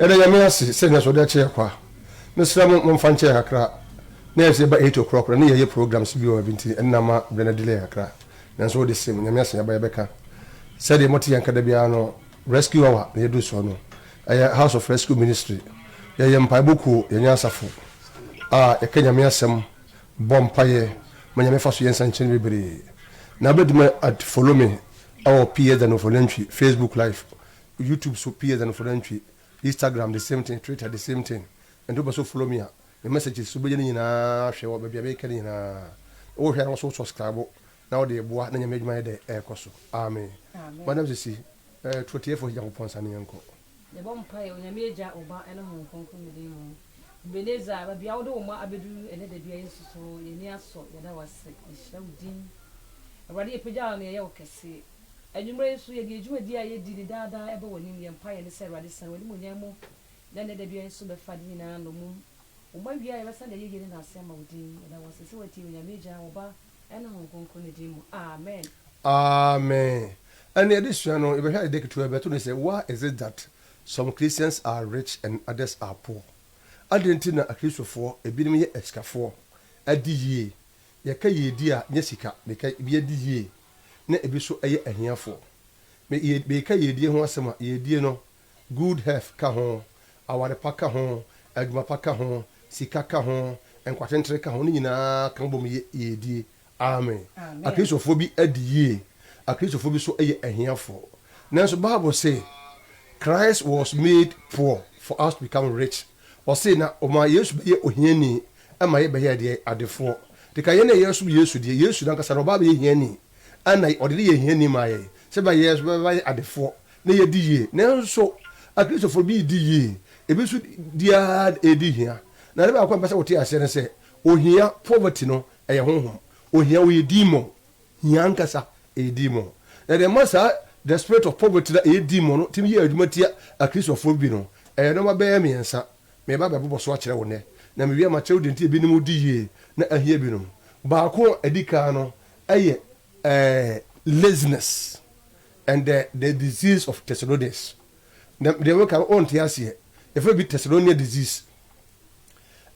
yɛda nyame ase sɛ nea sɔde akyɛ kwa mesrɛ mo momfa nkyɛ yɛ kakra na yɛsɛ ba 8 o'clock na ne yɛyɛ programs bi wɔ bi nti ɛnna ma berɛ no delay kakra nanso wode sɛ mu nyame ase yɛba yɛbɛka sɛdeɛ mote yɛn kada biara no rescue hour na yɛduru soɔ no Yɛyɛ House of Rescue Ministry. Yɛyɛ mpaebɔ kuo. Yɛnyɛ asafo a yɛka Nyame asɛm, bɔ mpaeɛ ma Nyame fa so yɛ nsɛnkyerɛnne bebree. Na wobɛtumi at follow me wɔ PS Danofo Nantwi, Facebook live, YouTube so PS Danofo Nantwi, Instagram the same thing, Twitter the same thing. Nti wopɛ sɛ wo follow me a, me messages wobɛnya ne nyinaa ahwɛ wɔ baabi a mekɛ no nyinaa. Wohwɛ a na wo nso wo subscribe Na wode aboa na Nyame adwuma yɛ dɛ ɛkɔ so Amen madam Sisi eh tuatiefo he Nyankopɔn nsa ne yɛnkɔ. Yɛbɔ mpaeɛ Onyame Agya, Oba ɛne Honhom Kronkron no din mu. Ebenezer baabi a wode wo mma abɛduru ɛnɛ da bi a Yesu so yɛn ani asɔ yɛda wo ase yɛhyira wo din Awurade yɛpagya wo na yɛyɛ wo kɛse Anwummerɛ yi nso yɛde yɛn dwumadie a yɛdi no daa daa ɛba w'anim yɛn mpaeɛ ne sɛ Awurade sane w'animuonyam mu na ɛnɛ da bi a nso bɛfa ade nyinaa nnommum wo mma wie a yɛbɛsane de ayɛyie ne naase ama wo din yɛda wo ase sɛ watie Onyame Agya, Oba. Ɛne Honhom Kronkron no din mu, amen. Amen. Ɛne adesua no, yɛbɛhwɛ ade ketewa bi. Yɛto no sɛ, Why is it that some Christians are rich and others are poor? Adɛn nti na Akristofoɔ, ebinom yɛ asikafoɔ, adi yie, yɛka yiedi a, nyɛ sika na ɛka, ebi adi yie, na ebi nso yɛ ahiafoɔ? Me, yɛ, mereka yiedie ho asɛm a, yiedie no, Good health ka ho, aware pa ka ho, adwuma pa ka ho, sika ka ho, nkwatentere ka ho, ne nyinaa ka ho bom yɛ yiedie. Amen. Akristofoɔ bi adi yie, Akristofoɔ bi nso yɛ ahiafoɔ. Nanso Bible se, Christ was made poor for us to become rich. Ɔse, na ɔmaa Yesu bɛyɛɛ ohiani ma yɛbɛyɛɛ deɛ? Adefoɔ. Te ka yɛn a yɛresom Yesu deɛ, Yesu n'ankasa no ɔbaa bɛyɛ hiani, ɛna ɔde ne yɛ hiani maa yɛn, sɛ bɛyɛ yɛn nso bɛbɛyɛ adefoɔ na yɛadi yie. Nanso Akristofo bi redi yie, ebi nso di ara redi hia. Na ade baako a mepɛ sɛ wote aseɛ ne sɛ, ohia, poverty, no yɛ honhom. Ohia, ɔyɛ demon. Hia ankasa, ɛyɛ demon. Na deɛ ɛma saa the spirit of poverty no a ɛyɛ demon no tumi yɛ adwuma tia Akristofo bi no, ɛyɛ nneɛma bɛyɛ mmiɛnsa. Mereba abɛbobɔ so akyerɛ wo nnɛ, na mewie a makyerɛ wo deɛ nti a ebinom di yie na ahia binom. Baako a ɛdi kan no yɛ ɛɛ laziness. And the the disease of Thessalonians na deɛ meka no wonte aseɛ yɛfrɛ bi Thessalonian disease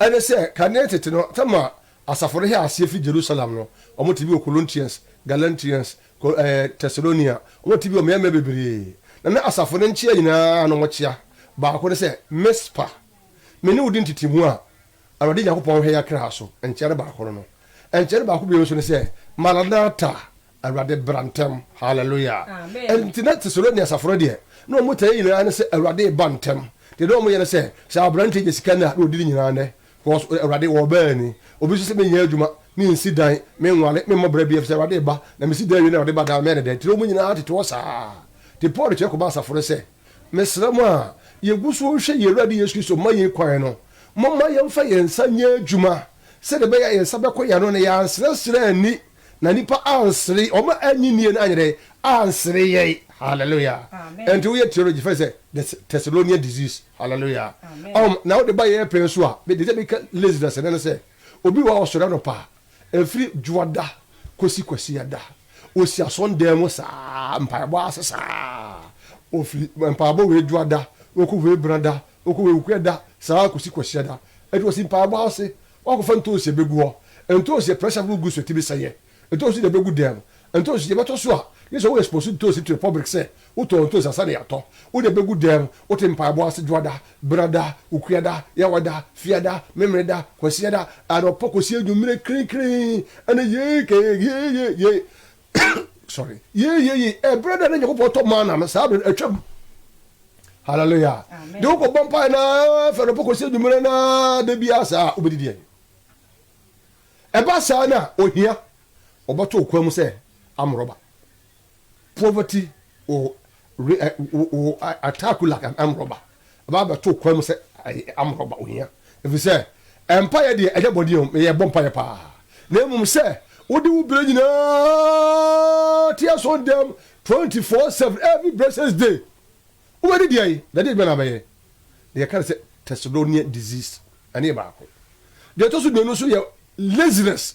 ɛne sɛ kane tete no tam a asafo no hɛ aseɛ firi Jerusalem no wɔn te bi wɔ Colontians Galantians Col eh, Thessalonia wɔn te bi wɔ mmeammea bebree na na asafo no nkyea nyinaa no wɔkyea baako ne sɛ Mispa me ne wo di ntetemu a Awurade Nyankopɔn hwɛ yɛ akra so nkyea no baako no no nkyea no baako bio nso ne sɛ Maranatha Awurade bra ntɛm. Hallelujah. Amen. Nti na Thessalonians asafo no deɛ, na wɔn tae nyinaa ne sɛ Awurade reba ntɛm. Deɛ na wɔn yɛ ne sɛ, sɛ abranteɛ nya sika no a, na ɔdi ne nyinaa nɛ. Cos Awurade wɔbaa ni. Obi nso sɛ menyɛ adwuma, mensi dan, menware, memmɔ bra bi, efisɛ Awurade reba. Na mesi dan wie na Awurade ba daa mɛyɛ no dɛn? Nti na wɔn nyinaa tete hɔ saa. Nti Paul kyerɛ kɔmaa asafo no sɛ, Mesrɛ mo a yɛgu so rehwɛ yɛn Awurade Yesu Kristo ma yɛn kwan no, momma yɛmfa yɛn nsa nyɛ adwuma sɛdeɛ ɛbɛyɛ a yɛn nsa bɛkɔ yɛn ano na yɛansrɛsrɛ anni Na nnipa ansere, wɔn a annye nnie no anyɛ dɛn? Ansere yɛn. Hallelujah. Ɛnti woyɛ theology fɛ sɛ the Thessalonian disease. Hallelujah. Ɔhom, na wode ba yɛn pɛn so a, mede sɛ meka laziness ne no sɛ, obi wɔ a ɔsɔre anɔpa a, ɛfiri dwoada kɔsi kwasiada, ɔsi asɔndan mu saa, mpaebɔ ase saa, ɔfiri mpaebɔ wei dwoada, ɔkɔ wei benada, Ɔkɔ wɔ Awukureɛ da saa ara kɔsi Kwasiɛ da. Ɛti ɔsi mpaebɔ ase, wakɔfa ntoosi abɛgu hɔ. Ntoosi yɛ pressure foforo gu so ɛtumi sɛeɛ. Ntoosi na ɛbɛgu dɛm. Ntoosi deɛ ɛbɛtɔ so a, gye sɛ wo expose ntoosi to the public sɛ wotɔɔ ntoosi ansa na yɛatɔ. Wode abɛgu dɛm, wote mpaebɔ ase Dwoada, Benada, Wukureɛda, Yawada, Fiada, Memeneda, Kwasiɛda, anɔpa kɔsi anwumerɛ krenkree, ɛne yee kee yee yee yee. sorry yeyeye ɛberɛ da na nyankopɔn tɔ maana no saa berɛ no atwam hallelujah de wokɔ bɔ mpae na fɛ no pɔkɔ sɛ nwummerɛ na da biara saa a wobɛdidi ani ɛba saa no a ohia ɔbɛto okwan mu sɛ amorɔba poverty will we ɛ wo wo attack you like an armed robber, aba abɛto wo kwan mu sɛ armed robber, ohia. Efisɛ mpaeɛ deɛ ɛnyɛ bɔne o, yɛbɔ mpaeɛ paa, na mmom sɛ wode wo berɛ nyinaa te asɔndam twenty four seven every blessed day. Wobɛdi deɛn? Ɛdeɛ adwuma na wobɛyɛ. Na yɛka no sɛ Thessalonian disease, ɛno yɛ baako. Deɛ ɛtɔ so mmienu nso yɛ laziness,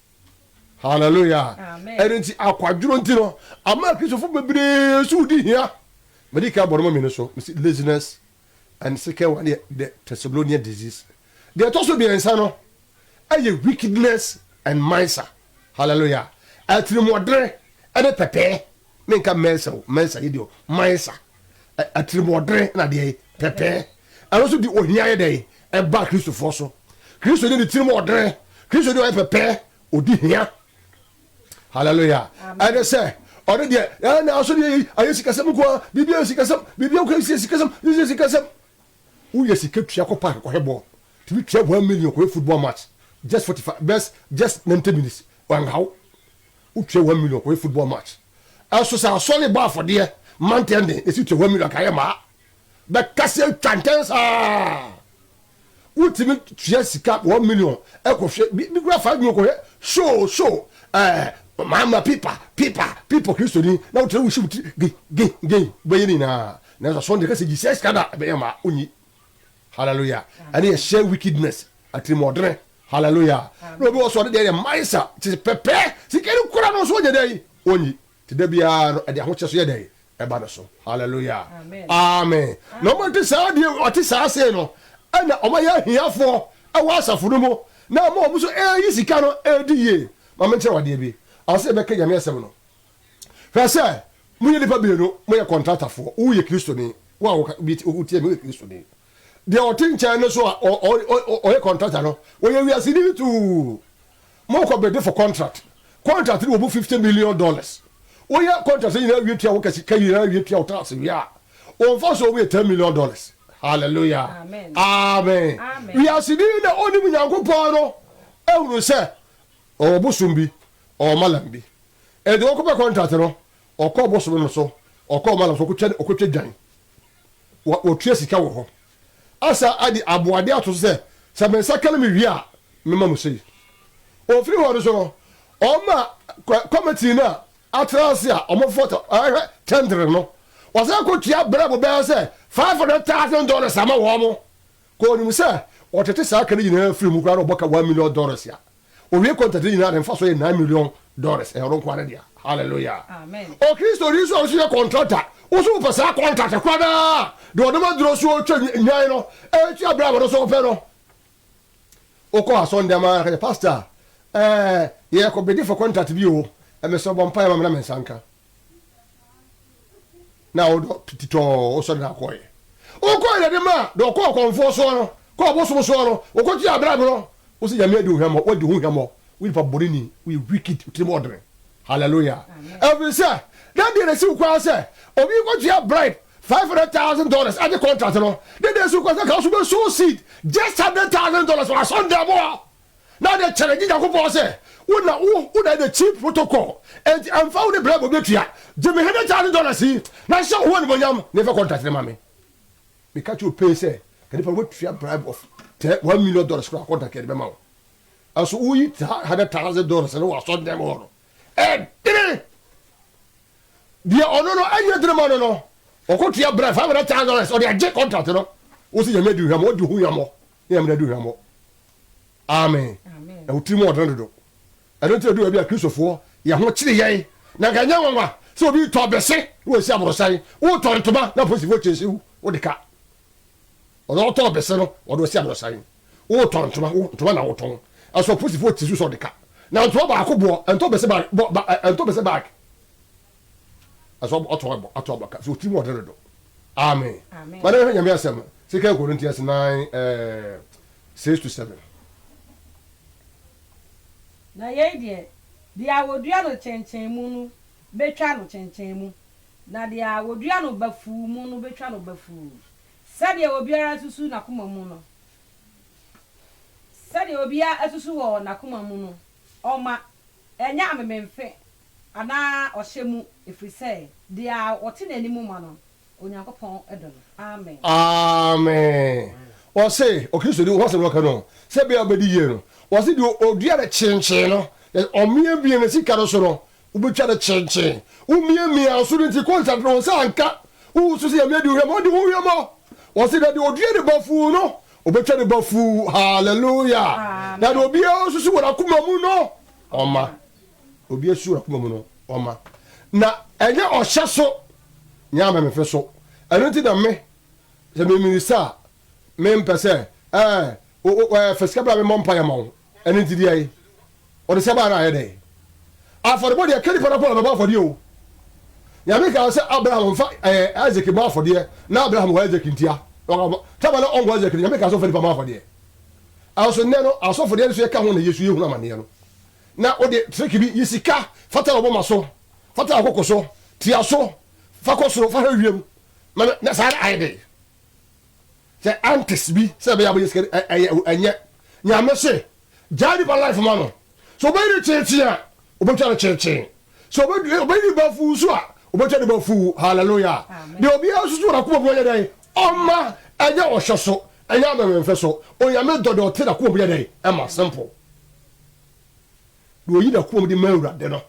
Hallelujah. Ɛno nti akwadworo nti no ama Kristofo bebree so di hia. Mede ka bɔdɔmɔ mmienu so, mesi laziness and second one yɛ the Thessalonian disease. Deɛ ɛtɔ so mmiɛnsa no ɛyɛ wickedness and mansa. Hallelujah. Atirimuɔdene ɛne pɛpɛɛ ne nka mansa o, mansa yɛ deɛ o, mansa. Atirimuɔdene na deɛ yi, pɛpɛɛ, ɛno nso de ohia yɛ dɛn? Ɛba Kristofoɔ so. Kristoni de tirim ɔdene, Kristoni ɔyɛ pɛpɛɛ, ɔdi hia. Hallelujah. Ɛne sɛ, ɔne deɛ, ɛɛ na asɔre yɛ ayɛ sikasɛm nkoa, biribi ayɛ sikasɛm, biribi nkoa yɛ sikasɛm, yɛ sikasɛm. Woyɛ sika tua kɔ park kɔhwɛ bɔɔl, tumi tua one million kɔhwɛ football match, just forty five, just just ninety minutes, wanhaw. Wo tua one million kɔyɛ football match ɛso sɛ asɔre bɔ afɔdeɛ ma ntɛndee na ɛsi tua one million kayɛ maa bɛka sɛ twa ntɛn saa Wo timi tua sika one million ɛkɔ hwɛ bi bi kura five million kɔ hwɛ show show ɛɛ eh, maama pipa pipa pipa kristoni na wo tiri wo hyiw tiri gin gin gin bɛyɛ ne nyinaa na ɛsɛ asɔre deɛ kasa gyi sɛ sika da ɛbɛyɛ maa onyi hallelujah ɛne ɛhyɛ wickedness atirimɔdene Hallelujah na obi wɔ so ɔno deɛ yɛ mines a te pɛpɛ sika no kura no nso ɔnyɛ dɛn ɔnyi te da biara no ɛde ahokyɛ so yɛ dɛn ɛba no so Hallelujah amen na ɔma nti saa deɛ ɔte saa sei no ɛna ɔma yɛ ahiafoɔ ɛwɔ asafo no mu na ama ɔmo so ɛyi sika no ɛdi yie ma menkyerɛ wadeɛ bi ansa yɛbɛka nyame asɛm no hwɛ sɛ moyɛ nipa bienu moyɛ kɔntratafoɔ woyɛ kristoni wo a wotie me woyɛ kristoni Deɛ ɔte nkyɛn no so a ɔyɛ kɔntrata no, ɔyɛ wiaseni no tuu. Mokɔ bidi for contract. Contract no wɔ mu fifty million dollars. Woyɛ contract no nyinaa wie tua wo ka sika nyinaa wie tua wo tax wie a, wo mfasoɔ mu yɛ ten million dollars. Hallelujah. Amen. Wiaseni no a ɔnim Nyankopɔn no ahunu sɛ ɔwɔ bosom bi, ɔwɔ malam bi. Ɛnti ɔkɔpɛ contract no, ɔkɔ bosom no so, ɔkɔ malam so, ɔkɔtwa dwan. wɔtua sika wɔ hɔ. Asa de aboɔden ato so sɛ, Sɛ me nsa ka na miwie a, mɛma mo sei. Ofiri hɔ no nso no, ɔma kɔmitii no a atra ase a wɔfata hwɛ kyɛntere no, wɔsan kotua berɛbo bɛyɛ sɛ five hundred thousand dollars ma wɔn. Ka onim sɛ wɔtete saa ka no nyinaa firi mu koraa na wɔbɔ ka one million dollars a. Owie contract no nyinaa de mfaso yɛ nine million dollars ɛyɛ ɔno nkoa ne dea hallelujah Amen. Okristoni nso a ɔso yɛ contract a woso wopɛ saa contract kora daa de ɔde ma duro so twa nwan no ɛtua bere a wɔde so wopɛ no wokɔ asɔnde ama ara kanya pastor ɛɛ yɛ kɔ bedi for contract bi o ɛmɛ sɛ ɔbɔ mpae ma me na me nsa nka. na wo dɔ tititɔɔ wo sɔre na kɔɔyɛ wo kɔɔ yɛ de ma dɔ ɔkɔɔ kɔnfoɔ soɔ no kɔɔ bosom soɔ no wo kɔ kyi abrɛ borɔ wo si nyame adi wo hwɛmɔ wo adi ho hwɛmɔ wo nipa bɔne ni wo yɛ wicked wo tirim ɔdene hallelujah ɛfiri sɛ dɛn deɛ na si wo kwan sɛ obi kɔ kyi abrɛ five hundred thousand dollars agye contract no dɛn deɛ si wo kwan sɛ ka wo so bɛ sow seed just hundred thousand dollars wɔ asɔn dɛm hɔ na ɔde kyɛrɛ gye Nyankopɔn sɛ, Wo na wo wo na the cheap protocol, enti ɛmfa wo ne bribe a obetua, gye me hundred thousand dollars yi, na hyɛ wo ho animuonyam, na fa contract no ma me. Meka kyerɛ wo pɛn sɛ, ka nipa no woatua bribe of te one million dollars koraa a, contract yɛde bɛma wo. Nanso woyi saa hundred thousand dollars no wɔ asɔredan mu hɔ no, ɛdene! Deɛ ɔno no ɛnyɛ dene ma no no, ɔkɔtua bribe five hundred thousand dollars, ɔde agye contract no, wo se Nyame adi wo hwammɔ, odi wo ho hwammɔ. ne yɛn mene adi hwammɔ. Amen. Na wo tirim wɔ ɔdene dodo. Ɛno nti ɛdu baabi a Kristofoɔ yɛ ho kyere yɛn. Na nka ɛnyɛ nwanwa sɛ obi retɔ bese na wasi aborosan. Woretɔ ntoma na apolisifoɔ kyese wo, wode ka. Ɔno ɔtɔɔ bese no, ɔde ɔsi aborosan. Woretɔ ntoma, wo ntoma na wotɔn. Ɛso apolisifoɔ kyese wo sɛ ɔde ka. Na ntoma baako boɔ, ɛntɔ bese bag, bɔ, ba, ɛntɔ bese bag. ɛsɛ ɔtɔ ɛbɔ ato aba ka so ɔtiri mu ɔde redo ame ma ne hwɛ nyame asɛm sika ɛkoro nti ɛse nine ɛɛ six to seven. Na yei deɛ, deɛ a wɔdua no kyenkyen mu no bɛtwa no kyenkyen mu, na deɛ a wɔdua no bafuu mu no bɛtwa no bafuu. Sɛdeɛ obiara asusu n'akoma mu no, sɛdeɛ obiara asusu wɔ n'akoma mu no ɔma, ɛnyɛ amememfe Anaa ɔhyɛ mu, ɛfiri sɛ deɛ a ɔte n'anim ma no, Onyankopɔn dɔ no. Amen. Amen. Wɔse Okristoni ho asɛm na ɔka no, sɛ ɛbɛyɛ a wobɛdi yie no. Wɔse deɛ ɔdua no kyenkyen no, ɔmiamia ne sika no so no, wobɛtwa no kyenkyen. Womiamiaa wo so no nti, kɔ nsrahwɛ, wo nsa anka, wowu so sɛ Nyame adi wo hwammɔ, ɔde wo hwammɔ. Wɔse na deɛ ɔdua no bafuu no, wɔbɛtwa no bafuu. Hallelujah. Na deɛ obiara susu wɔ n'akoma mu no, ɔma. Obi asu wɔ n'akoma mu no, ɔma. Na ɛnyɛ ɔhyɛ so nyɛ amemfe so. Ɛno nti na me, sɛ memirisa a, mempɛ sɛ, ɛɛ, o, o, ɛɛ, fa sika bra memmɔ mpaeɛ ma wo. Ɛno nti deɛ ɛyɛ, ɔde sika baeɛ no ayɛ dɛn? Afɔrebɔ deɛ, ɛka nipa no kɔ na ɔbɛbɔ afɔdeɛ o. Nyame kaa sɛ Abraham mfa, ɛɛ, Isaac mmɔ afɔdeɛ, na Abraham wɔ Isaac ntia. Tama na ɔnwɔ Isaac no, Nyame kaa sɛ ɔmfa nipa mmɔ afɔdeɛ. Nanso nnɛ no, asɔfo deɛ nso yɛka ho na yɛsu, yɛhunu amaneɛ no. na wode treke bi yi sika fa tare w'moma so, fa tare w'koko so, tia so, fa kɔ soro, fa hwɛ wiem, ma me, na saa na ayɛ dɛn? Sɛ antes bi sɛ ɛbɛyɛ abɛyɛ sika ɛ ɛyɛ o ɛnyɛ. Nyame se gyae nipa life ma no. Sɛ ɔbɛyi no kyeekyee a, ɔbɛtwa no kyeekyee. Sɛ ɔbɛdwi ɛ ɔbɛyi no bafuu nso a, ɔbɛtwa no bafuu. Hallelujah! Deɛ obiara susu wɔ n'akoma mu ɔnyɛ dɛn? Ɔmma! Ɛnyɛ ɔhwɛ so, ɛnyɛ amɛmɛmfɛ so. Onyame dɔ deɛ ɔte n'akoma mu yɛ dɛn? Ɛma. Simple. Deɛ ɔyi n'akomam de ma Awurade no,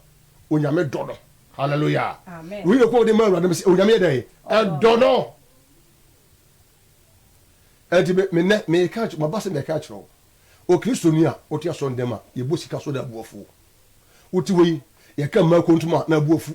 Onyame dɔ no. Hallelujah. Deɛ ɔyi n'akomam de ma Awurade no, Onyame yɛ dɛn? Ɛdɔ no. Ɛnti me me nɛ me ka kyerɛ maba sɛ mɛka akyerɛ wo okristoni a wote asɔndɛm a yɛbɔ sika so na abuafuo wote wei yɛka mmaa kontom a na abuafu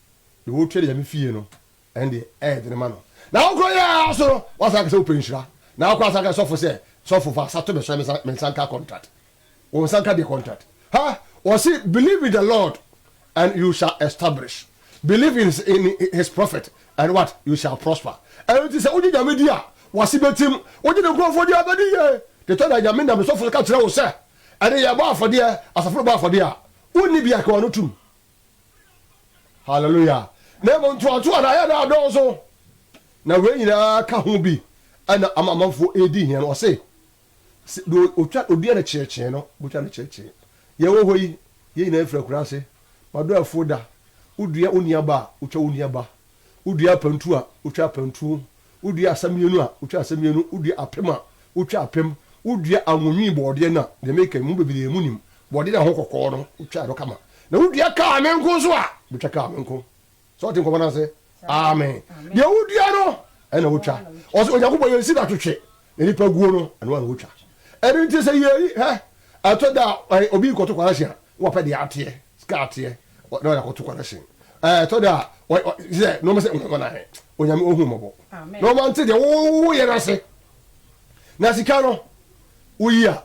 deɛ ɔretwɛn Nyame fie no, ɛno deɛ ɛyɛ dene ma no. Na wo kora yɛ ara so no, woasan aka sɛ wopɛ nhyira. Na wokora asan aka sɔfo sɛ, Sɔfo fa sa to me so na me nsa nka contract. Wo nsa nka deɛ contract? Ha! Wɔse, Believe in the Lord and you shall establish, believe in his, in his prophet and what? You shall prosper. Ɛno nti sɛ wogye Nyame di a, w'ase bɛtim. Wogye ne nkurɔfoɔ di a, ɛbɛdi yie. Deɛ ɛtɔ da Nyame nam ne sɔfo so ka kyerɛ wo sɛ, ɛnde yɛbɔ afɔdeɛ, asafo no bɔ afɔdeɛ a, wonni bia, ka w'ano tom. Hallelujah! Na mmom ntoatoa no ayɛ no adɔɔso, na wei nyinaa ka ho bi na ama amanfoɔ redi hia no. Ɔse, deɛ ɔtwa ɔdeɛ no kyeekyee no, bɛtwa no kyeekyee. Yɛn wɔ hɔ yi, yɛn nyinaa firi akuraase. M'adɔɛfoɔ da, wodua wo nuaba a, wotwa wo nuaba. Wodua apantu a, wotwa apantu. Wodua asamienu a, wotwa asamienu. Wodua apem a, wotwa apem. Wodua anwonwii bɔɔdeɛ no a, deɛ meka yi, mo mu bebree monim, bɔɔdeɛ no a ɛho kɔkɔɔ no, wotwa ɛno kama. Na wodua kaa me nko nso a, wobɛtwa kaa me nko. Sɛ wote nkɔmmɔ no ase? Amen. Deɛ wodua no, ɛna wotwa. Ɔse, Onyankopɔn, yɛnsi no atwetwe, na nnipa guo no, ɛno ara na wɔtwa. Ɛno nti sɛ yei, hwɛ, ɛtɔ da a, obi rekɔto kwanasi a, na wapɛ deɛ ateɛ, sika ateɛ, na ɔde akɔto kwanasi. Ɛtɔ da a, sɛ nneɛma sɛ nwanwanwanan, Onyame ɔhu mmɔbɔ, na ɔma nte deɛ woyɛ no ase. Na sika no, woyi a,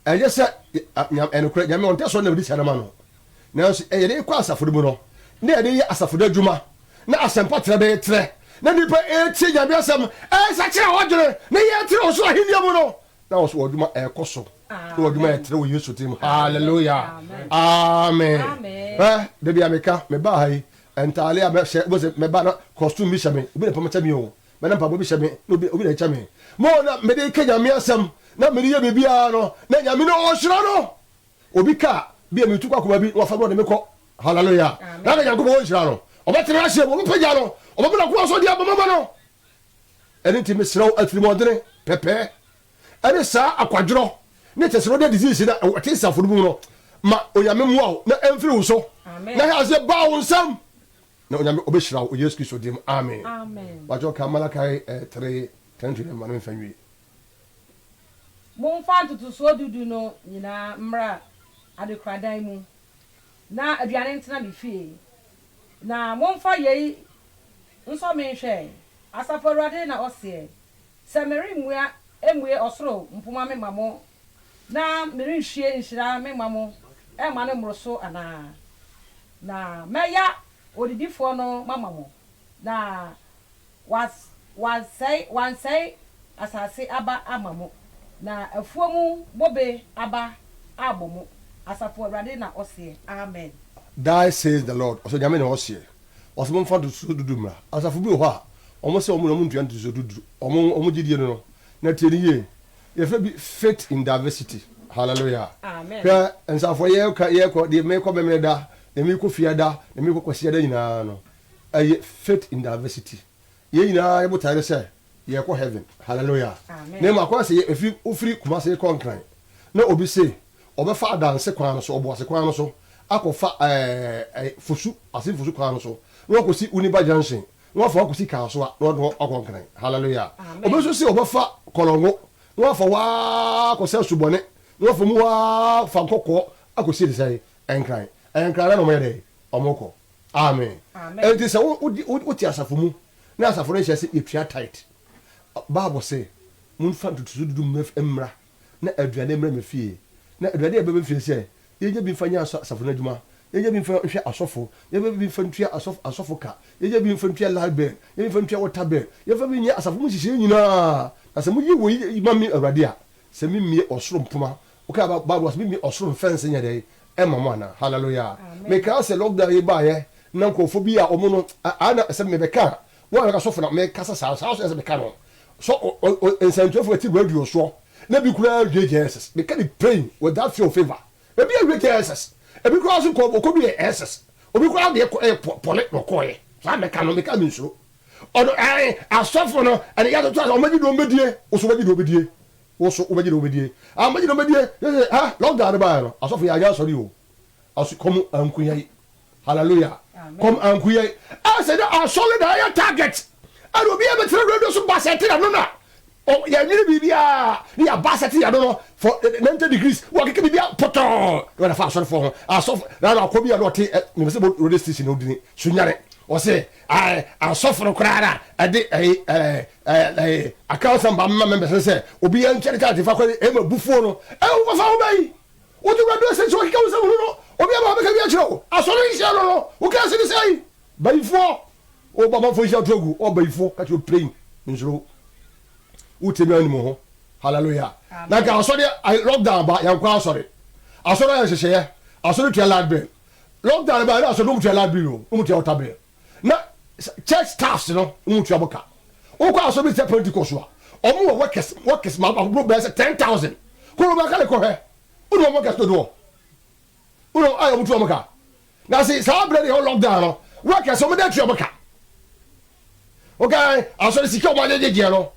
ɛnyɛ sɛ, ɛnokorɛ, Nyame ɔntɛ sɔre na ɔde sika no ma no. Nanso yɛde rekɔ asafo no mu no, na yɛde reyɛ asafo no adwuma, na asɛmpa trɛ bɛyɛ trɛ, na nnipa retie Nyame asɛm, resakyera wɔn adwene, na yɛretrɛw ɔsoro ahenni mu no, na wɔn adwuma rekɔ so, na wɔn adwuma yɛ trɛ wɔ Yesu din mu. Hallelujah! Amen! Hwɛ, da bi a meka, mebaa ha yi, ntaade a mɛhyɛ, wobɛhu sɛ mɛba na costume bi hyɛ me, obi na pam kyɛ me o, mɛ na mpaboa bi hyɛ me, na obi, obi na ɛkyɛ me. Mo na mede reka Nyame asɛm, na mede yɛ biribiara no, na Nyame na ɔhyira no. Obi ka a, bia metu kɔ akoma bi na wafa me ɔde me kɔ. Hallelujah. Na ka Nyankopɔn ɔnhyira no. Ɔbɛtena n'aseɛ mu, ɔbɛpagya no, ɔbɛma n'akoa so de abɔ mama no. Ɛno nti mesrɛ wo atirimuɔdene, pɛpɛɛ, ɛne saa akwadworɔ ne tɛsrɛdɛ disease no a ɛte nsafo no mu no, ma Onyame mmoa wo na ɛmfiri wo so na hwɛ aseɛ baa wo nsam. Na Onyame ɔbɛhyira wo wɔ Yesu Kristo din mu. Amen. Amen. Bakyɛ ka Malachi eh, 3, 10 to 11 ma no mfa nwie. Momfa ntotosoɔ du du no nyinaa mmra adekoradan mu, na aduane ntena me fie. Na momfa yei nsɔ me nhwɛ, Asafo Awurade na ɔseɛ, sɛ meremmua mmue ɔsoro mpoma memma mo, na merenhwie nhyira memma mo mma no mmoro so anaa? Na mɛya ɔdidifoɔ no mama mo, na Was, wansɛe, wansɛe asase aba ama mo, na afuo mu bobe aba ammɔ mo, Asafo Awurade na ɔseɛ. Amen. Thus says the Lord, ɔsɛ Nyame na ɔseɛ, ɔsɛ momfa ntotosoɔ dudu mmra. Asafo bi wɔ hɔ a, wɔn sɛ wɔn na wɔntua ntotosoɔ dudu, wɔn, wɔn gyedie no no. Na tie no yie, yɛfrɛ bi faith in diversity. Hallelujah. Amen. Hwɛ, nsafo yɛka, yɛkɔ, deɛ meekɔ Memeneda, deɛ meekɔ Fiada, deɛ meekɔ Kwasiada nyinaa no, Ɛyɛ faith in diversity yɛn nyinaa yɛ botae ne sɛ yɛ kɔ heaven hallelujah na ɛmu akwan sɛ yɛ ɛfiri wo firi Kumasi kɔ Nkran na obi se ɔbɛfa adanse kwan no so ɔboase kwan no so akɔ fa ɛɛ fosu ase fosu kwan no so na wakɔ si Uniba junction na wafa wakɔ si Kasoa na ɔde wakɔ Nkran hallelujah obi nso se ɔbɛfa Kɔlɔngo na wafa waa kɔ sɛ subɔne na wafa mu waa fa nkɔkɔɔ akɔ si de sɛ Nkran ɛyɛ Nkran na na ɔmo yɛ dɛ ɔmo kɔ Amen. Enti sɛ wote asafo mu na asafo no nhyɛ sɛ yɛtua tithe, Bible se, Momfa ntotoso du du mmra na aduane mmra me fie, na aduane a ɛba me fie sɛ yɛnya bi mfa nyɛ asafo no adwuma, yɛnya bi mfa nhwɛ asɔfo, yɛmfa bi mfa ntua asɔfo ka, yɛnya bi mfa ntua light bill, yɛnya bi mfa ntua water bill, yɛmfa bi nyɛ asafo mu nhyehyɛe nyinaa, na sɛ moyɛ wei ma me Awurade a, sɛ memmue ɔsoro mpoma Wokaa ba Bible ɔse bimbi ɔsoro mfɛnsee nyɛ dɛn ɛma mo anaa hallelujah mekaa sɛ lockdown yi baayɛ na nkorɔfoɔ bi a ɔmo no ayɛ na sɛ mebɛka a wo a bɛka sɔfo na mekasa saa saa so ɛsɛ meka no sɔ nsɛntuafo ɛte radio soɔ na bi koraa wie gyɛɛsɛs meka ne pain with that fear of favor ebi awie gyɛɛsɛs ebi koraa so kɔ ɔkɔ duyɛ ɛsɛs obi koraa deɛ kɔ ɛyɛ pɔ pɔle na ɔkɔɔyɛ saa meka no meka mensuro ɔno ɛɛ asɔfo no ɛne yɛatoto asɛ ɔmo agye deɛ ɔmo bɛdie wo so wagye deɛ ɔbɛdie Wo so wobɛgye na wobɛdie? Ah, mɛgye na mɛdie. Yɛsɛ ha, lockdown no baeɛ no, asɔfo yɛanyɛ asɔre o. Ɔse kɔm anku yɛn. Hallelujah. Kɔm anku yɛn. Ɛsɛ dɛ asɔre na ɛyɛ target. Ɛna obi a bɛtena radio so ba sɛte yɛn no na yɛnwene biribiara ne yɛaba sɛte yɛn no no for 90 degrees. Wɔkeke biribiara pɔtɔɔ na wɔde afa asɔrefoɔ ho. Asɔfo na na ɔkɔ bi a na ɔte mepɛ sɛ bɔ radio station no dini Sunyani. Ɔse Ae, asɔfo no koraa na ɛde ɛyi, ɛɛ, ɛɛ, ɛɛ, Akansa mma mma members no sɛ obiara ntwa ne krataa fa kɔ awie, ɛma abufuo no. Ɛwɔ kɔ fa nwoma yi. Wotu wura do sɛ sɛ ɔkeka wo nsɛm hunu no, obiara ma ɔbɛka bi akyerɛ wo. Asɔre nhyia no no, woka ase ne sɛi, Bayifoɔ, wo ba manfoɔ nhyia to agu, ɔ bayifoɔ, ka kyerɛ plain, nsuro wo. Wo tiri nwa nim wo ho. Hallelujah. Na nka asɔre, lockdown ba, yɛnkɔ asɔre. Asɔre ayɛ nhyehyɛeɛ. Asɔre tua light bill. lockdown no bae no asɔre no mutua library no no mutua water bill na church staffs no mutua mo ka wokɔ asɔre bi sɛ pentecost a ɔmo wɔ workers workers ma aburo bɛyɛ sɛ ten thousand koro bɛka ne kɔhwɛ wone wɔn workers dodoɔ wone wɔn ayɛ ɔmo tua mo ka na se saa abirɛ ne yɛ lockdown no workers ɔmo de atua mo ka Wokae asɔre sika a wɔn ayɛ gyegyeɛ no?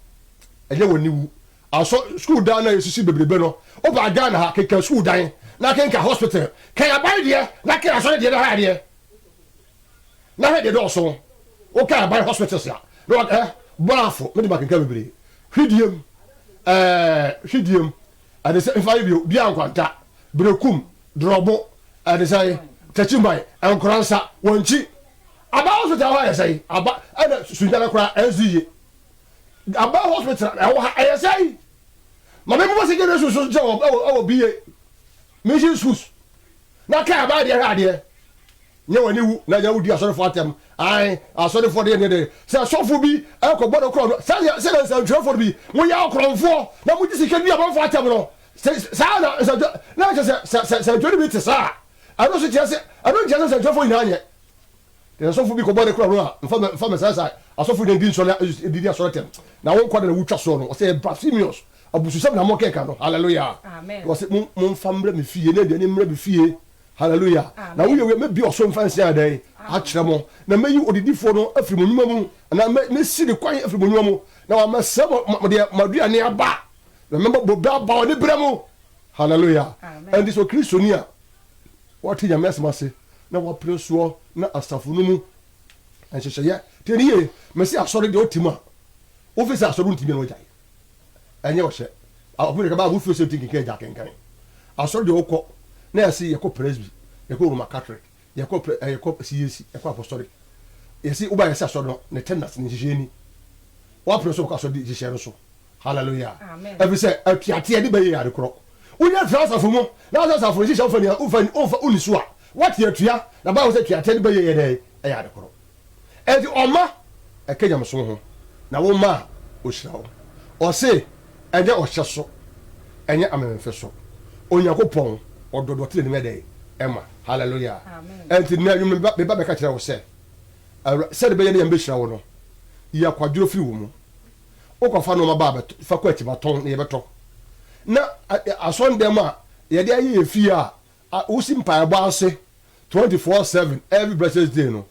Ɛnyɛ wɔn aniwu. Asɔ sukuu dan no a yɛsisi bebrebe no, woba Ghana ha, kenkan sukuu dan, na kenkan hospital. Kan aban deɛ, na kan asɔre deɛ, na ha deɛ, na ha deɛ dɔɔso. Wokan aban hospitals a, na wɔn eh, Boafo, me de makenkan bebree. Hwidiem, eh, Hwidiem, ɛde sɛ nfa yɛ bio, Bia Nkwanta, Berekum, Drɔbo, ɛde sɛ Takyiman, Nkoransa, Wankyi, Aba hospital hɔ ayɛ sɛn? Aba ɛna sunyana koraa ɛnsi yie. Aba hospital ɛwɔ ha ɛyɛ sɛn? Maame bi wɔ secondary school so gyina wɔ ɛwɔ ɛwɔ BA mission schools na kaa aba adeɛ hwɛ adeɛ. Nyɛ w'ani wu na nyɛ wodi asɔrefo atɛm. Ae asɔrefo deɛ deɛ deɛ sɛ sɔfo bi ɛkɔ bɔ no korɔn sɛdeɛ sɛdeɛ nsɛntwerɛfoɔ no bi mo yɛ ɔkorɔnfoɔ na mo gye sika di abɔfo atɛm no sɛ saa na nsɛntwerɛ na ɛkyɛ sɛ sɛ sɛ nsɛntwerɛ no bi te saa a ɛno nso kyerɛ sɛ ɛno nkyerɛ sɛ nsɛntwerɛfoɔ nyinaa nyɛ Na ɔsɔfo bi kɔbɔ ne kora no a, mfa me mfa me saa saa asɔfo na di nsɔre na edidi asɔre atɛm. Na wo nkwa da na wutwa soɔ no. Ɔsɛ blasphemous. Abususɛm na mokeka no. Hallelujah. Na ɔsɛ mo momfa mmra me fie na aduane mmra me fie. Hallelujah. Na woyɛ wei a mɛbue ɔsoro mfɛnsee ayɛ dɛn? Akyerɛ mo. Na mɛyi ɔdedifoɔ no afiri mo nnwuma mu, anaa mɛ mɛsi ne kwan afiri mo nnwuma mu. Na wɔamɛsɛe mo mo mo deɛ mo aduane aba. Na mɛma bobe aba wɔ ne berɛ mu. Hallelujah. Ɛnti sɛ ɔkristoni a. Wɔte Nyame asɛm ase na wɔpene soɔ na asafo no mu nhyehyɛeɛ. Tie no yie, mese asɔre deɛ ɔte mu a wofi sɛ asɔre wontumi a na wagyae. Ɛnyɛ ɔhyɛ. Ɔpem de kaba a wofiri sɛ wonti nkenkan agya akenkan. Asɔre deɛ wokɔ na yɛse yɛkɔ Presby, yɛkɔ Roman Catholic, yɛkɔ yɛkɔ CAC, yɛkɔ Apostolic. Yɛse woba yɛse asɔre no ne tenders ne nhyehyɛeɛ ni. Woapene so wokɔ asɔre nhyehyɛeɛ no so. Hallelujah. Amen. Ɛfiri sɛ atuateɛ de bɛyɛ ade korɔ. Wonya firi asafo mu na sɛ asafo nhyehyɛ wofa ni wofa ni wofa woni so a wate atua na Bible sɛ atuateɛ de bɛyɛ yɛ dɛ ɛyɛ ade korɔ. Ɛnti ɔma ɛka nyamesom ho na wo ma a ɔhyira wo. Ɔse ɛnyɛ ɔhyɛ so ɛnyɛ amemfe so Onyankopɔn ɔdɔ de ɔte n'anim yɛ dɛ ɛma. Hallelujah. Amen. Ɛnti nnɛ anwummerɛ meba meba bɛka kyerɛ wo sɛ Awura sɛde bɛyɛ ne Nyame bɛhyira wo no yɛ kwadworɔ firi wo mu. wokɔ fa nnoɔma ba bɛtɔ fa kɔ atiba tɔn na yɛbɛtɔ na asɔndɛm a yɛde ayɛ yɛ fie a wosi mpaebɔ ase twenty four seven every blessed day no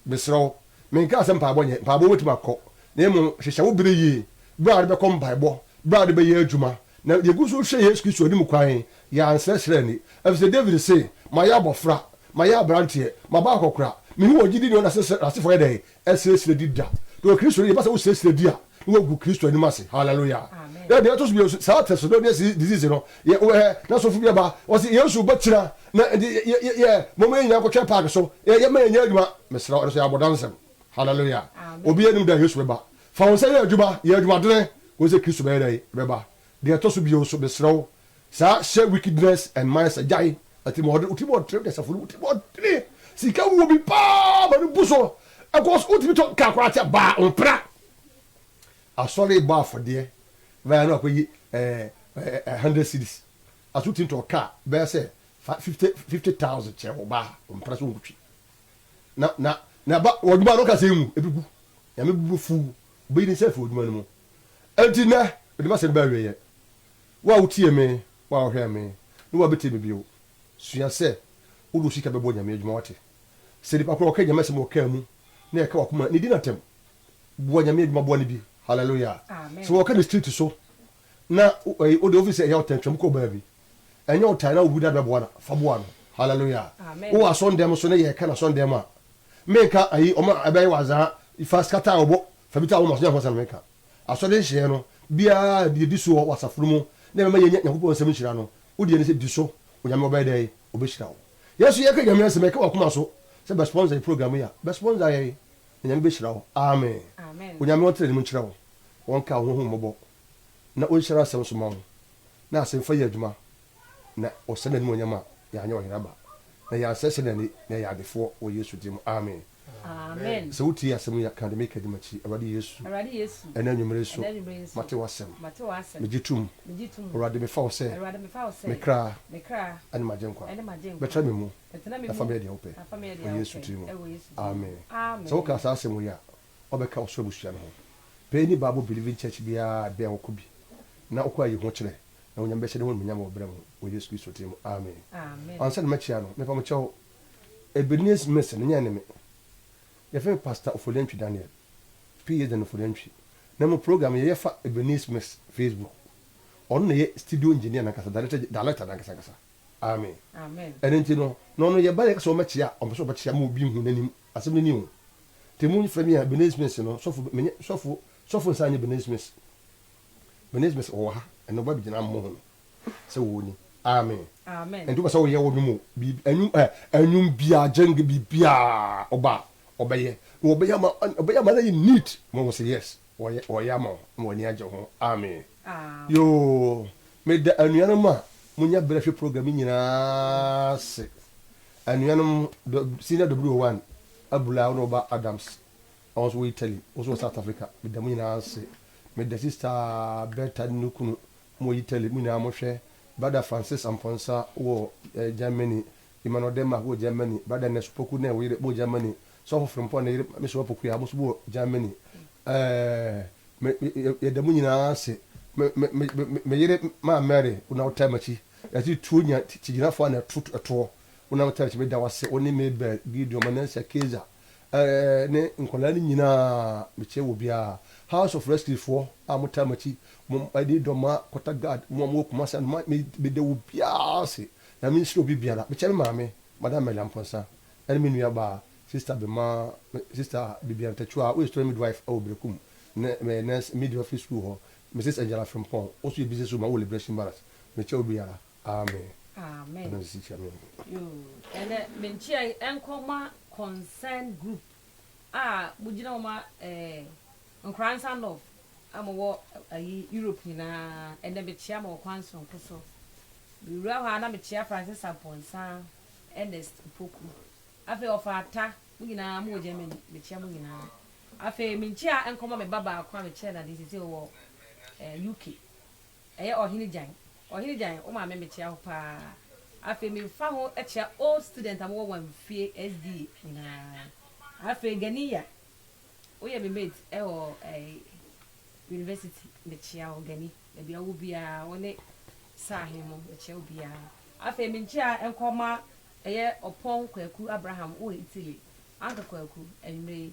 mesrɛ wo menkaa sɛ mpaebɔ nyɛ mpaebɔ wobɛtumi akɔ na emu hyehyɛ wo bere yie bere a wode bɛkɔ mpaebɔ bere a wode bɛyɛ adwuma na yɛgu so hwɛ Yesu Kristo anim kwan yɛ ansrɛsrɛ ni efisɛ David se mayɛ abɔfra mayɛ aberanteɛ maba akɔkora mehu wɔ gyidi ne ɔnasefo yɛ dɛ Ɛserɛserɛ di da. Na wɔ Kristo anim, yɛpɛ sɛ wo serɛserɛ di a, na woagu Kristo anim ase. Hallelujah. Amen. Na deɛ ɛto so mmienu nso, saa Thessalonians disease no, yɛ, wɔ hɛ, na sɔfo bi aba, ɔse Yesu bɛ kyina, na nti yɛ, yɛ, yɛ, yɛ, momma yɛn nyinaa nkɔtwɛn park so, yɛ, yɛmma yɛnyɛ adwuma. Mesrɛ wo, ɛno nso yɛ abɔdansɛm. Hallelujah. Amen. Obiara nnim da a Yesu bɛba. Fa wo nsa yɛ adwuma, yɛ adwumadene, kɔhu sɛ Kristo bɛyɛ dɛn? Bɛba. Deɛ ɛtɔ so bio nso, mesrɛ wo, saa hyɛ wickedness and mine sɛ gyae atirimuɔden, wo tirimuɔdene wo dasafo no wo tirimuɔdene, sika wuo bi paa ma no bu so ɛkɔ so, wotumi tɔ car koraa kyɛ baa wo mpra, asɔre rebɔ afɔdeɛ bɛyɛ na wakɔyi ɛɛ hundred cedis aso wotumi tɔ car bɛyɛ sɛ fifty fifty thousand kyɛ wo baa wo mpra sɛ wonkutwi na na na ba wɔdwuma no kasa emu ebi gu nyame bu fuw bɛyi ne nsa fi wɔdwuma no mu. Enti nnɛ, mede m'asɛm no ba awieɛ. Wo a wotiee me, wo a wohwɛɛ me, ne wo a wobɛtie me bio, sua sɛ wode wo sika bɛbɔ Nyame adwuma, woate? Sɛ nipa korɔ ɔka Nyame asɛm wɔ kaa mu, na ɛka w'akoma a, ne di no atɛm. Boa Nyame adwuma, boa no bi. Hallelujah! Sɛ wɔka no street so, na wode, wofiri sɛ ɛyaw tɛntwɛm kɔ baabi. ɛnyɛ wo tae na wogu da bɛboa no a, fa boa no. Hallelujah. Wowɔ asɔndɛm so na yɛka na asɔndɛm mu a, menka ayi ɔma ɛbɛyɛ wazaa fa skata a ɔbɔ fa bi ta wɔn aso nyɛ ho sɛ na meka. Asɔre nhyehyɛeɛ no biara yɛdi soɔ wɔ asafo no mu na ɛbɛma yɛnya Nyankopɔn nsɛm nhyira no, wo deɛ ne sɛ di so, Onyame ɔbɛyɛ dɛn? Ɔbɛhyira wo. Yɛn nso yɛka Nyame asɛm a ɛka w'akoma so sɛ bɛ sponsor yɛn program yi a, bɛ sponsor yɛn na Nyame bɛhyira wo. Amen. Onyame ɔntra anim nkyerɛ wo, ɔnka wo ho ho mmɔbɔ na ɔnhyira asɛm so ma wo. na asɛmfua yɛ adwuma, na wɔsɛe n'animuonyam a, yɛanyɛ ɔhene aba, na yɛansɛesɛe n'ani, na yɛyɛ adefoɔ wɔ Yesu din mu. Amen. Sɛ wotie asɛm yi a, ka deɛ mereka di m'akyi, Awurade Yesu, ɛnnɛ anwummere nso, mate w'asɛm. Megye tom, Awurade, mefa wo sɛ me kra ne m'agyenkwa. Bɛtra me mu, na fa meyɛ deɛ wopɛ, wɔ Yesu tiri mu. Amen. Sɛ wokaa saa asɛm wei a, ɔbɛka ɔsoro abusua no ho. Pɛ nni Bible Believing Church biara a ebia wɔkɔ bi na ɔkɔ ayi ho kyerɛ na Onyame bɛhyɛ ne ho animuonyam wɔ bra mu wɔ Yesu Kristo din mu, amen. Ansa na makyia no, mepa mo kyɛw, Ebenezer Mason nyɛ ne me. Yɛfrɛ me Pastor Oforiantwi Daniel, PH. Daniel Oforiantwi, na mo program yɛ yɛfa Ebenezer Mason Facebook. Ɔno na ɛyɛ studio engineer no ankasa, director, director no ankasa ankasa, amen. Ɛno nti no, na ɔno yɛba na yɛka sɛ ɔmmɛkyia a, ɔmpɛ sɛ ɔbɛkyia ma obi nhu n'anim. Asɛm no ni o. Te mo frɛ me a Benet Smith no sɔfo me nyɛ sɔfo sɔfo nsa nyɛ Benet Smith. Benet Smith ɔwɔ ha ɛnɛ ɔba bɛgyina ama mo ho no sɛ wɔ ni. Amen. Amen. Ɛnti wopɛ sɛ woyɛ ɔnwom o biribi ɛnwom ɛ ɛnwom biaa gyɛnge biribiaa ɔba a ɔbɛyɛ na ɔbɛyɛ ama ɔbɛyɛ ama no ayɛ neat ma wahu sɛ yes ɔyɛ ɔyɛ ama wo ma w'ani agye ho. Amen. Yoo meda anuanom a monya berɛ hwɛ program yi nyinaa ase. Anuanom dɔ Senior Dobrio One abula wo ne wo ba Adams a wɔn nso wɔ Italy, wo nso wɔ South Africa, meda mo nyinaa ase. Meda Sista Berta ne ne kunu, mowɔ Italy, mo nyinaa mohwɛ. Brada Francis Amponsah wɔ eh, Germany, Emmanuel Denmark wɔ Germany, Brada Ness Opoku ne wo yere mowɔ Germany, Sɔfo Frimpong ne yere Mame Sua Opoku a mo nso mowɔ Germany. Eh, me, me, yɛ, yɛda mo nyinaa ase. Me, me, me, me, me yere Maa Mary, wo na wotaa m'akyi. Yɛte tuo nya kyigyinafo a na ɛto ɛtoɔ. Wonam tɛrɛkyi meda wo ase, wo ne Mabel, Gideon, Manasseh, Keizer eh, ne nkwadaa no nyinaa mekyɛ wɔ biara. House of Rescue foɔ a mo taa makyi, mo ɛde dɔma, kɔta guard, mo a mo wɔ Kumasi ano, ma me meda wo biara ase. Nyame nhyira obi biara. Mekyɛ me maame, Madam Mary Amponsah, ɛne me nua baa, Sister Bema, me Sister Bibian Tachuah, woyɛ Story Midwife ɛwɔ Berekum, ne me Nurse Midwifery School hɔ, Mrs Angela Frimpong, ɔso yɛ Business Woman wɔ Liberation Barracks. mekyɛ obiara amen ɛna ɔsi kyɛ me yoo ɛnɛ me nkyia yi ɛnkɔ ma concern group a mo gyina mo ma ɛɛ nkoransa north a mo wɔ ayi europe nyinaa ɛnɛ me kyia mo wɔ kwan soronko so me wura hɔ a na me kyia francis ampɔnsa ernest poku afei ɔfa ata mo nyinaa mo wɔ germany me kyia mo nyinaa afei me nkyia ɛnkɔ ma me ba baako a me kyia na de sisi wɔ ɛɛ uk Ɛyɛ Ɔhene Gyan. Ɔhene Gyan, wo maame mekyea wo paa. Afei mefa ho kyea old student a mowɔ Wamfie SDA nyinaa. Afei Ganiya, woyɛ me mate wɔ university, mekyea wo Gani. Baabi a wowɔ biara, wo ne Sir Ahemmo, mekyea obiara. Afei me nkyea nkɔ mma ɛyɛ Ɔpɔn Kwaku Abraham wɔ Italy, Uncle Kwaku, anwumerɛ yi,